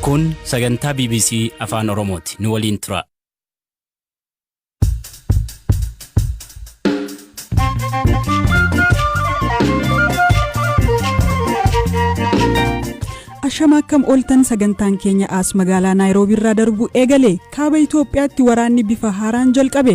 Kun sagantaa BBC Afaan Oromooti. Nu waliin turaa. Ashama akkam ooltan sagantaan keenya as magaalaa Naayiroobii irraa darbu eegale kaaba Itoophiyaatti waraanni bifa haaraan jalqabe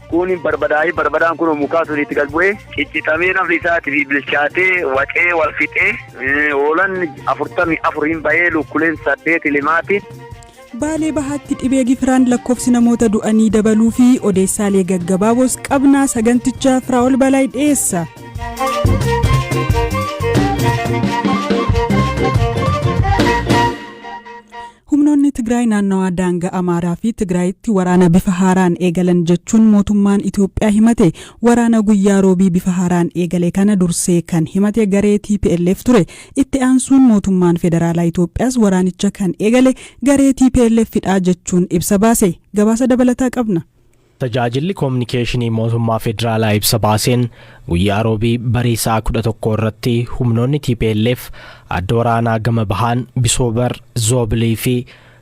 Kuun barbadaa'ee barbadaan kunoo mukaa sun itti gad bu'ee ciccixamee nafni isaatiif bilchaatee waxee wal fixee hoolan afurtamii afur hin bahee lukkuleen saddeet limaati. Baalee Bahaatti dhibee gifiraan lakkoofsi namoota du'anii dabaluu fi odeessaalee gaggabaaboos qabnaa saganticha Firaa'ol Balaay dhiyeessa. Humnoonni Tigraay naannawaa daangaa Amaaraa fi Tigraayitti waraana bifa haaraan eegalan jechuun mootummaan Itoophiyaa himate. Waraana guyyaa Roobii bifa haaraan eegale kana dursee kan himate garee tplf ture. Itti aansuun mootummaan federaalaa Itoophiyaas waraanicha kan eegale garee tplf dha jechuun ibsa baase. Gabaasa dabalataa qabna. Tajaajilli Kominikeeshinii Mootummaa Federaalaa ibsa baaseen, guyyaa Roobii barii sa'a 11:00 irratti humnoonni tplf adda waraanaa gama bahaan Bisoobar, Zoobilii fi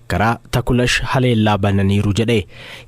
karaa Takulash haleellaa bananiiru jedhe.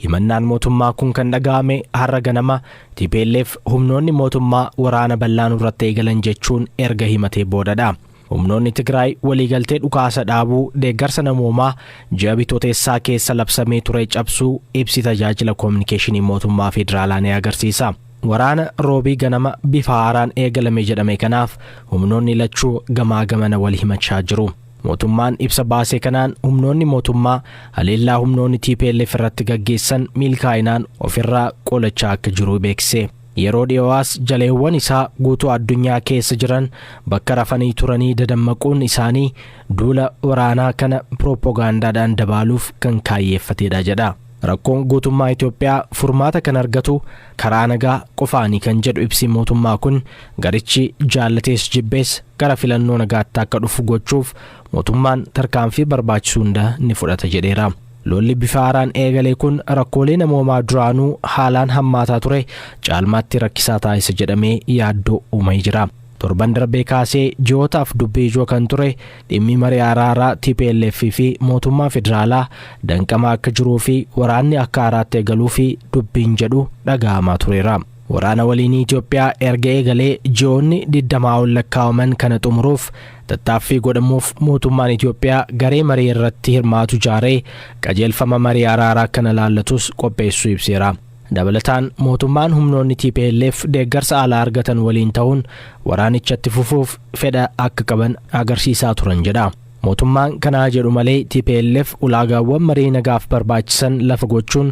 Himannaan mootummaa kun kan dhaga'ame har'a ganama tplf humnoonni mootummaa waraana bal'aa nurratti eegalan jechuun erga himatee boodadha. Humnoonni Tigraay waliigaltee dhukaasa dhaabuu deeggarsa namoomaa ji'a Bitootessaa keessa labsamee ture cabsuu ibsi tajaajila koominikeeshinii mootummaa federaalaa ni agarsiisa. Waraana roobii ganama bifa haaraan eegalame jedhame kanaaf humnoonni lachuu gamaa gamana wal himachaa jiru. Mootummaan ibsa baasee kanaan humnoonni mootummaa haleellaa humnoonni TPLF irratti gaggeessan milkaa'inaan ofirraa qolachaa akka jiru beeksise. Yeroo dhiyoo as jaleewwan isaa guutuu addunyaa keessa jiran bakka rafanii turanii dadammaquun isaanii duula waraanaa kana pirooppogaandaadhaan dabaaluuf kan kaayyeeffateedha jedha. Rakkoon guutummaa Itoophiyaa furmaata kan argatu karaa nagaa qofaani kan jedhu ibsi mootummaa kun garichi jaallatees jibbees gara filannoo nagaatti akka dhufu gochuuf mootummaan tarkaanfii barbaachisu hunda ni fudhata jedheera. Lolli bifa haaraan eegale kun rakkoolee namoomaa duraanuu haalaan hammaataa ture caalmaatti rakkisaa taasisa jedhamee yaaddoo uumee jira. Torban darbee kaasee ji'ootaaf dubbii ijoo kan ture dhimmi marii araaraa tplf fi mootummaa federaalaa danqamaa akka jiruu fi waraanni akka haaraatti eegaluu fi dubbiin jedhu dhaga'amaa tureera. Waraana waliinii Itoophiyaa erga eegalee ji'oonni 20 ol lakkaa'aman kana xumuruuf tattaaffii godhamuuf mootummaan Itoophiyaa garee marii irratti hirmaatu ijaaree qajeelfama marii araaraa kana laallatus qopheessuu ibseera. Dabalataan mootummaan humnoonni tplf deeggarsa alaa argatan waliin ta'uun waraanicha itti fufuuf fedha akka qaban agarsiisaa turan jedha. Mootummaan kana haa jedhu malee tplf ulaagaawwan marii nagaaf barbaachisan lafa gochuun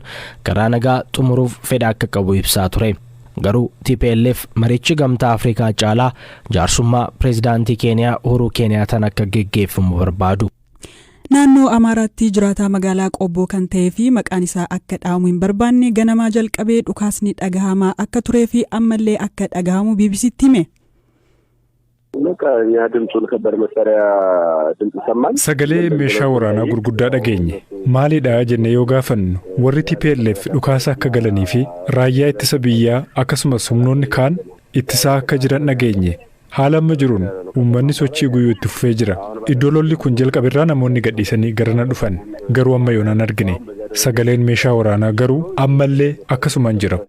karaa nagaa xumuruuf fedha akka qabu ibsaa ture. Garuu tplf marichi gamtaa Afrikaa caalaa jaarsummaa pireezidaantii Keeniyaa Uhuruu Keeniyaataan akka geggeeffamu barbaadu. Naannoo Amaaraatti jiraataa magaalaa Qobboo kan ta'ee fi maqaan isaa akka dhaamu hin barbaanne ganamaa jalqabee dhukaasni dhagahamaa akka turee fi ammallee akka dhagahamu BBCtti hime. Sagalee meeshaa waraanaa gurguddaa dhageenye. Maalidha jennee yoo gaafannu warri TPLF dhukaasa akka galanii fi raayyaa ittisa biyyaa akkasumas humnoonni kaan ittisaa akka jiran dhageenye. Haala amma jiruun uummanni sochii guyyuu itti fufee jira. Iddoo lolli kun jalqabe irraa namoonni gadhiisanii garana dhufan garuu amma yoonaan argine. Sagaleen meeshaa waraanaa garuu ammallee akkasumaan jira.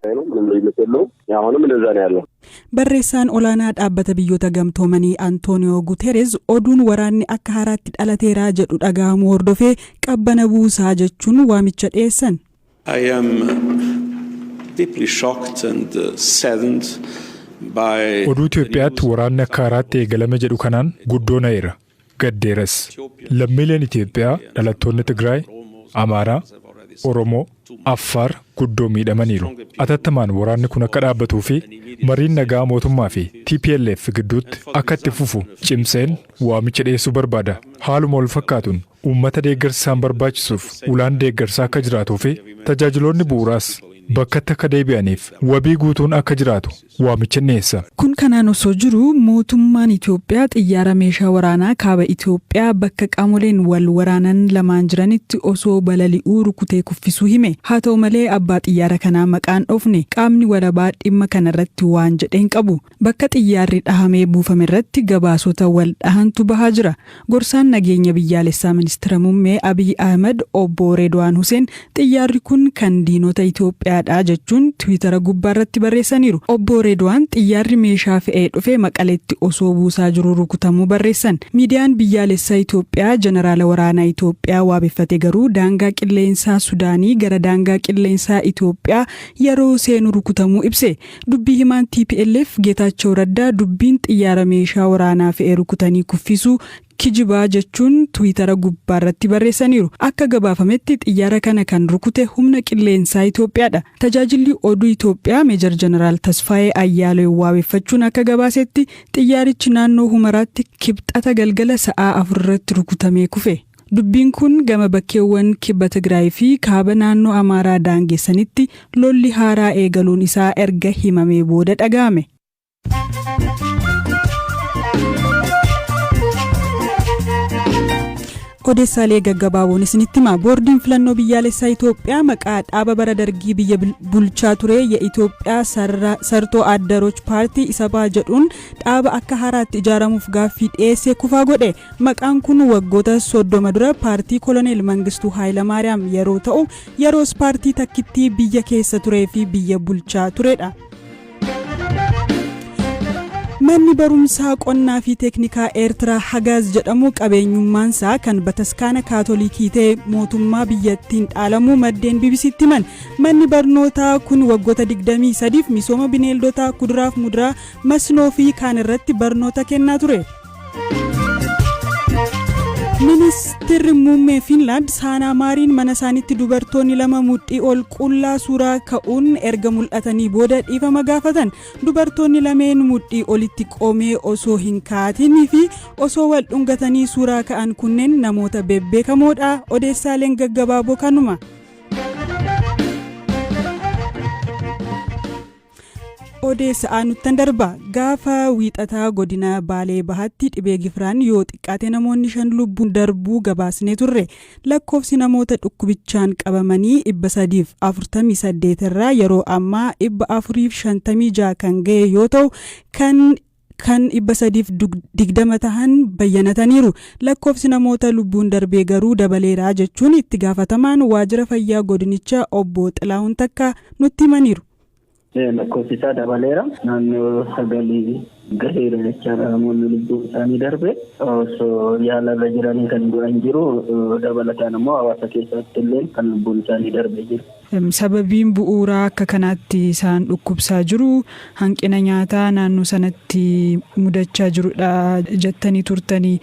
Barreessaan olaanaa Dhaabbata Biyyoota Gamtoomanii Antooniyoo Gutereez oduun waraanni akka haaraatti dhalateera jedhu dhaga'amuu hordofee qabbana buusaa jechuun waamicha dhiyeessan. I am deeply shocked and saddened by Oduu Itoophiyaatti waraanni akka haaraatti eegalame jedhu kanaan guddoo na'eera. gaddeeras. Lammiileen Itoophiyaa dhalattoonni Tigraay, Amaaraa, Oromoo, Affaar guddoo miidhamaniiru. Atattamaan waraanni kun akka dhaabbatuu fi mariin nagaa mootummaa fi tplf gidduutti akka itti fufu cimseen waamicha dhiyeessuu barbaada. Haaluma wal fakkaatuun uummata deeggarsi isaan barbaachisuuf ulaan deeggarsaa akka jiraatuu fi tajaajiloonni bu'uuraas bakkatti akka deebi'aniif wabii guutuun akka jiraatu waamicha dhiyeessa. Kun kanaan osoo jiru mootummaan Itoophiyaa xiyyaara meeshaa waraanaa kaaba Itoophiyaa bakka qaamoleen wal waraanan lamaan jiranitti osoo balali'uu rukutee kuffisuu hime. Haa ta'u malee abbaa xiyyaara kanaa maqaa hin dhoofne. Qaamni walabaa dhimma kanarratti waan jedhe hin qabu. Bakka xiyyaarri dhahamee buufamerratti gabaasota wal dhahantu bahaa jira. Gorsaan Nageenya Biyyaalessaa Ministira Mummee Abiy Ahimad Obbo Reedwaan Huseen xiyyaarri kun kan diinota Itoophiyaadha jechuun Tiwiitara gubbaarratti barreessaniiru. Obbo Reedwaan xiyyaarri meeshaa fe'ee dhufe Maqaleetti osoo buusaa jiruu rukutamuu barreessan. Miidiyaan biyyaalessaa Itoophiyaa Janaraala Waraanaa Itoophiyaa waabeffate garuu daangaa qilleensaa Sudaanii gara daangaa qilleensaa Itoophiyaa yeroo seenu rukutamuu ibse. Dubbii himaan tplf Geetaachoo Raddaa dubbiin xiyyaara meeshaa waraanaa fe'e rukutanii kuffisuu kijiba jechuun Twiitara gubbaarratti barreessaniiru. Akka gabaafametti xiyyaara kana kan rukute humna qilleensaa Itoophiyaadha. Tajaajilli oduu Itoophiyaa Meejar Jeneraal Tasfaayee Ayyaaleew waabeffachuun akka gabaasetti xiyyaarichi naannoo Humaraatti Kibxata galgala sa'aa 4:00 irratti rukutamee kufe. Dubbiin kun gama bakkeewwan Kibba Tigraay fi Kaaba naannoo Amaaraa daangessanitti lolli haaraa eegaluun isaa erga himamee booda dhaga'ame. Odeessaalee gaggabaaboon isinitti hima. Boordiin filannoo biyyaalessaa Itoophiyaa maqaa dhaaba bara dargii biyya bulchaa ture ya Itoophiyaa sartoo addaroch paartii isabaa jedhuun dhaaba akka haaraatti ijaaramuuf gaaffii dhiyeesse kufaa godhe. Maqaan kun waggoota 30 dura paartii koloneel Mangistuu Haayilamaariyaam yeroo ta'u, yeroos paartii takkittii biyya keessa turee fi biyya bulchaa turedha. Manni barumsaa qonnaa fi teeknikaa Eertiraa Hagaaz jedhamu qabeenyummaansaa kan bataskaana kaatolikii ta'e mootummaa biyyattiin dhaalamuu maddeen BBC'tti himan. Manni barnootaa kun waggoota 23f misooma bineeldotaa, kuduraaf muduraa, masnoo fi kaan irratti barnoota kennaa ture. Ministeerri muummee Fiinlaand Saanaa Maariin mana isaaniitti dubartoonni lama mudhii ol qullaa suuraa ka'uun erga mul'atanii booda dhiifama gaafatan. Dubartoonni lameen mudhii olitti qomee osoo hin kaatinii fi osoo wal dhungatanii suuraa ka'an kunneen namoota bebbeekamoodha. Odeessaaleen gaggabaaboo kanuma. Odeessa aanuttan darba gaafa wiixataa godina baalee bahaatti dhibee gifiraan yoo xiqqaate namoonni shan lubbuun darbuu gabaasnee turre lakkoofsi namoota dhukkubichaan qabamanii 348 irraa yeroo ammaa 456 kan ga'e yoo ta'u kan kan 320 tahan bayyanataniiru. Lakkoofsi namoota lubbuun darbee garuu dabaleera jechuun itti gaafatamaan waajjira fayyaa godinicha obbo Xilaahun Takkaa nutti himaniiru. Lakkoofsi isaa dabaleera. Naannoo sagalii gaheera jechaadha namoonni lubbuun isaanii darbe. Osoo yaalarra jiranii kan du'an jiru. Dabalataan ammoo hawaasa keessatti illee kan lubbuun isaanii darbe jiru. Sababiin bu'uuraa akka kanaatti isaan dhukkubsaa jiru hanqina nyaataa naannoo sanatti mudachaa jirudha jettanii turtanii.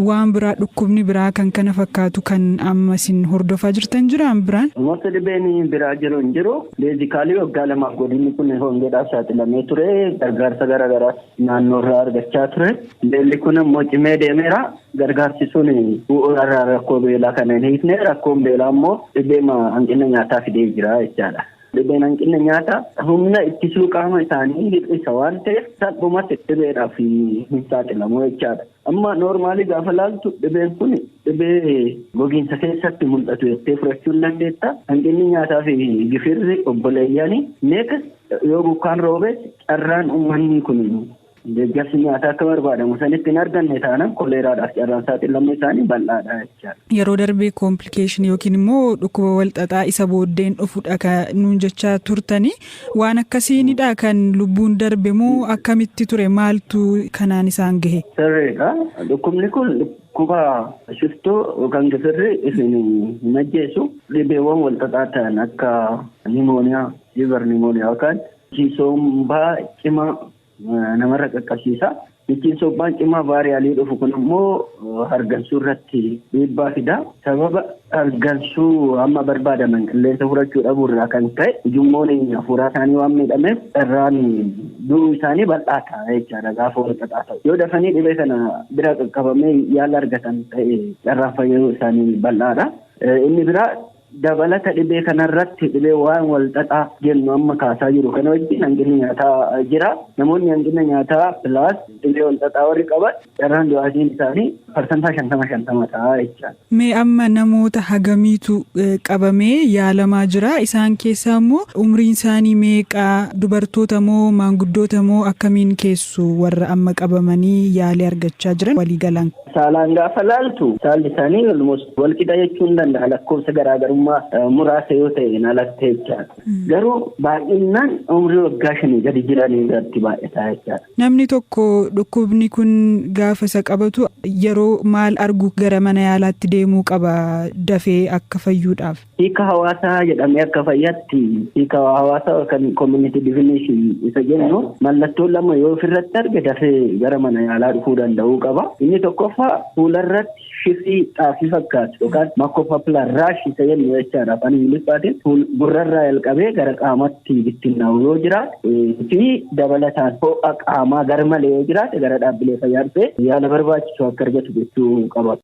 Waan biraa dhukkubni biraa kan kana fakkaatu kan amma isin hordofaa jirtan jiraan biraan? Mata dhibeen biraa jiru hin jiru. Beezikaalii waggaa lamaaf godinni kun hongeedhaaf saaxilamee ture. Gargaarsa gara garaas naannoorraa argachaa ture. Beelli kun immoo cimee deemeera. Gargaarsi sun bu'uura irraa rakkoo beelaa kana hin hiikne, rakkoon beelaa immoo dhibeema hanqina nyaataa fidee jira jechaadha. Dhibeen hanqinna nyaataa humna ittisuu qaama isaanii hir'isa waan ta'eef salphumatti dhibeedhaaf hin saaxilamu jechaadha. Amma noormaalii gaafa laaltu dhibeen kun dhibee gogiinsa keessatti mul'atu jettee fudhachuu hin dandeetta. Hanqinni nyaataa fi gifirri obboleeyyani neekas yoo bokkaan roobes carraan uummanni kun Deeggarsi nyaataa akka barbaadamu sanitti hin arganne taanaan koleeraadhaaf carraan saaxilamuu isaanii bal'aadha jechaadha. Yeroo darbe complication yookiin immoo dhukkuba walxaxaa isa booddeen dhufudha kan nuun jechaa turtani. Waan akkasiinidha kan lubbuun darbe moo akkamitti ture maaltu kanaan isaan gahe? Sirriidha. Dhukkubni kun dhukkuba shiftoo yookaan gifirri isin hin ajjeesu dhibeewwan walxaxaa ta'an akka nimooniyaa, liver nimooniyaa yookaan Ittiin sombaa cimaa namarra qaqqabsiisa. Ittiin sombaan cimaa vaariyaalii dhufu kun immoo hargansuu irratti dhiibbaa fida. Sababa hargansuu amma barbaadaman qilleensa fudhachuu dhabuu irraa kan ka'e ujummoon hafuuraa isaanii waan miidhameef carraan du'uu isaanii bal'aa ta'a jechaadha gaafa walxaxaa ta'u. Yoo dafanii dhibee kana bira qaqqabamee yaala argatan ta'e carraan fayyuu isaanii bal'aadha. Inni biraa Dabalata dhibee kanarratti dhibee waan walxaxaa jennu amma kaasaa jiru kana wajjin hanqinni nyaataa jira. Namoonni hanqina nyaataa plus dhibee walxaxaa warri qaban carraan du'aatiin isaanii parsantaa shantama shantama ta'a jechaadha. Mee amma namoota hagamiitu qabamee yaalamaa jira? Isaan keessaa immoo umriin isaanii meeqa? Dubartoota moo maanguddoota moo akkamiin keessu warra amma qabamanii yaalii argachaa jiran waliigalaan? Saalaan gaafa laaltu saalli isaanii almost walqixa jechuun ni danda'a lakkoofsa garaagarummaa muraasa yoo ta'een alatti jechaadha. Garuu baay'inaan umrii waggaa shanii gadi jiran irratti baay'ataa jechaadha. Namni tokko dhukkubni kun gaafa isa qabatu yeroo maal argu gara mana yaalaatti deemuu qaba dafee akka fayyuudhaaf? Hiika hawaasaa jedhamee akka fayyaatti hiika hawaasaa yookaan community definition isa jennu mallattoo lama yoo ofirratti arge dafee gara mana yaalaa dhufuu danda'uu qaba. Inni tokkoffaa fuularratti shifii xaafii fakkaatu yookaan makopapular rash isa jennu jechaadha afaan Ingiliffaatiin fuul gurrarraa jalqabee gara qaamatti bittinnaa'u yoo jiraate fi dabalataan ho'a qaamaa garmalee yoo jiraate gara dhaabbilee fayyaa dhufee yaala barbaachisu akka argatu gochuu qaba.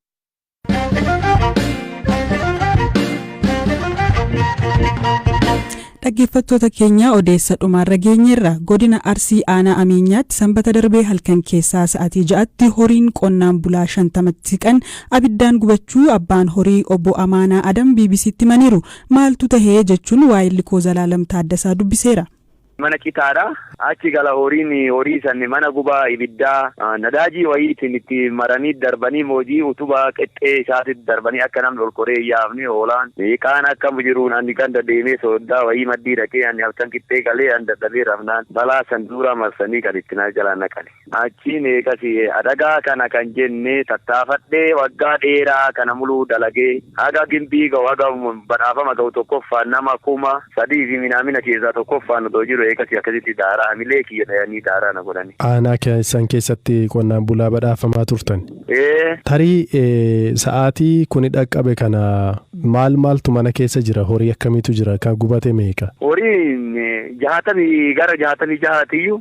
Dhaggeeffattoota keenya odeessa dhumaarra geenyeerra godina Arsii aanaa Ameenyaatti sanbata darbee halkan keessaa sa'aatii ja'atti horiin qonnaan bulaa shantamatti siqan abiddaan gubachuu abbaan horii obbo Amaanaa Adam BBC'tti himaniiru. Maaltu tahee jechuun waa'illi koo Zalaalam Taaddasaa dubbiseera. Mana citaa dha. Achi gala horiin horii san mana gubaa ibiddaa nadaajii wayiitiin itti maranii darbanii moojii utubaa qexxee isaatitti darbanii akka namni ol koree hin yaafne hoolaan kaan akka jiruun ani ganda deemee sooddaa wayii maddii dhaqee ani halkan qixxee galee ani dadhabee rafnaan balaa san duuraa marsanii gad itti na jalaa naqani. Achii meeqa si'e adagaa kana kan jenne tattaafadhee waggaa dheeraa kana muluu dalagee haga gimbii ga'u haga badhaafama ga'u tokkoffaan nama kuma sadii fi minaamina keessaa tokkoffaan odoo jiru eegasii akkasitti daaraa hamilee kiyya dhayanii daaraa na godhani. Aanaa keessan keessatti qonnaan bulaa badhaafamaa turtani? Ee. Tarii sa'aatii kuni dhaqqabe kana maal maaltu mana keessa jira horii akkamiitu jira kan gubate meeqa? Horiin jaatamii gara jaatamii jahaatiyyuu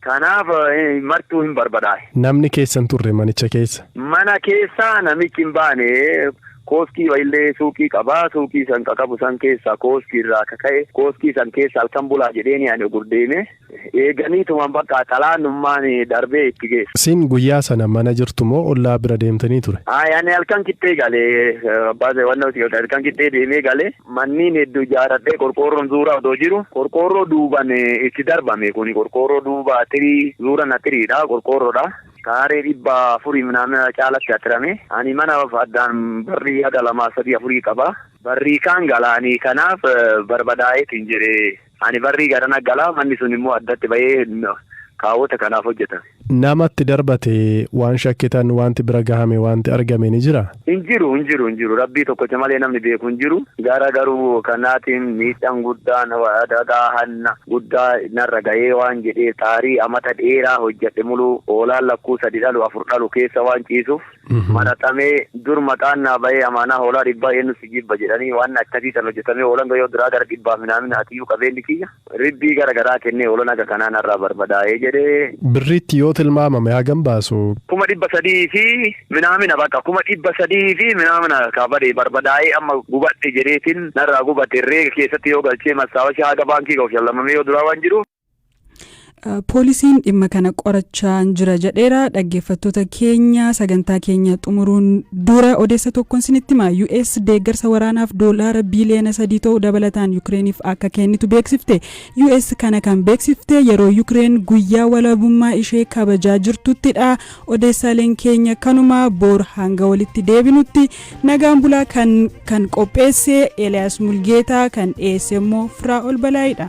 Kanaaf martuu hin barbadaa'e. Namni keessa hin turre manicha keessa. Mana keessaa namichi hin baane. Kooskii illee suuqii qaba. Suuqii san ka qabu san keessaa kooskii irraa ka ka'e kooskii san keessa halkan bulaa jedheeni ani ogur deeme. Eeganiituman bakka xalaannummaan darbee itti geessa. Isin guyyaa sana mana jirtu moo ollaa bira deemtanii ture? Ayi ani halkan qixxee gale. Abbaa Zeewannoo halkan qixxee deemee gale. Manniin heddu ijaaradhee qorqoorroon zuura odoo jiru qorqoorroo duuban itti darbame kuni qorqoorroo duuba atirii zuuran atiriidha qorqoorroodha kaaree dhibba afurii minaamina caalatti atirame ani mana addaan barrii haga lamaa sadii afurii qaba barrii kaan galaanii kanaaf barbadaa'eetin jedhe Ani barrii garana gala, manni sun immoo addatti ba'ee kaawota kanaaf hojjetame. Nama itti darbate waan shakkitan, waanti bira gahame, waanti argame ni jira? Hin jiru, hin jiru, hin jiru. Rabbii tokkocha malee namni beeku hin jiru. Gara garuu kanaatiin miidhaan guddaan adagaa hanna guddaa narra gahee waan jedhee taarii amata dheeraa hojjedhe muluu hoolaan lakkuu sadi dhalu afur dhalu keessa waan ciisuuf, maraxamee dur maqaan naa bahee amaanaa hoolaa dhibbaa eennu si jibba jedhanii waanna akkasii san hojjatamee hoolan gayoo duraa gara dhibbaaf minaamina atiyuu qabeenni kiyya ribbii gara garaa kennee hoolan haga kanaa narraa barbadaa'ee jedhee. Birriitti yoo tilmaamame hagam baasu? kuma dhibba sadii fi minaamina baqa kuma dhibba sadii fi minaamina kaa bade barbadaa'ee amma gubadhe jedheetin narraa gubate herreega keessatti yoo galchee mastaawashaa haga baankii gahu shallamamee yoo duraa waan jiruuf Poolisiin dhimma kana qorachaa jira jedheera dhaggeeffattoota keenya sagantaa keenya xumuruun dura odeessa tokkoon sinitti hima US deeggarsa waraanaaf doolaara biiliyoona sadii ta'u dabalataan Yukireeniif akka kennitu beeksifte US kana kan beeksifte yeroo Yukireen guyyaa walabummaa ishee kabajaa jirtuttidha odeessaaleen keenya kanuma boor hanga walitti deebinutti nagaan bulaa kan kan qopheesse Eliyaas Mulgeetaa kan dhiyeesse immoo Firaa'ol Balaayidha.